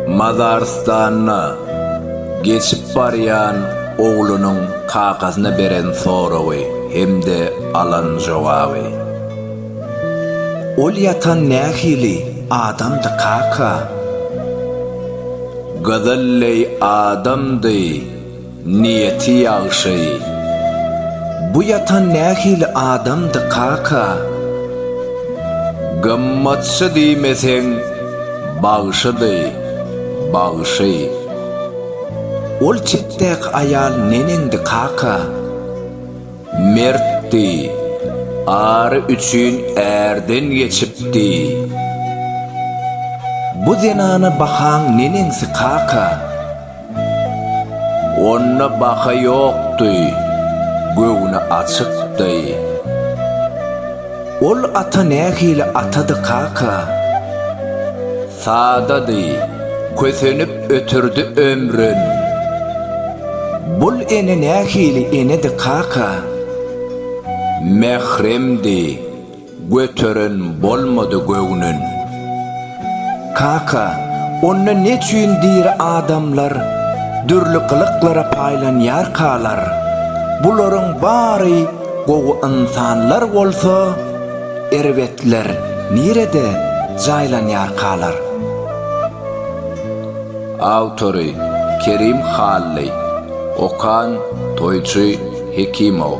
Mazarystanda geçip barýan oglunyň kakasyna beren soragy hem-de alan jogaby. Ol ýatan nähili adamdy, kaka? Gyzyl leý adamdy. Niýeti ýagşy. Bu ýatan nähili adamdy kaka? Gymmatçy diýmeseň, bagşydy, bagşy. Ol çetdäki aýal neneňdi kaka? Mertdi, ary üçin ärden geçipdi. Bu zenana bahaň neneňsi kaka? Onda baha ýokdy, göwni açykdy. Ol ata nähili atady, kaka? Sadady, kösenip ötürdi Ömrün. Bul ene nähili enedi, kaka? Mähremdi. Göteren bolmady göwnün. Kaka, onda neçüýn diri adamlar dürli gylyklara paýlanýarkalar? Bularyň bary gowy ynsanlar bolsa, erbetler nirede jaýlanýarkalar? Awtory, Kerim Hally. Okan, Toýçy. Hekimow.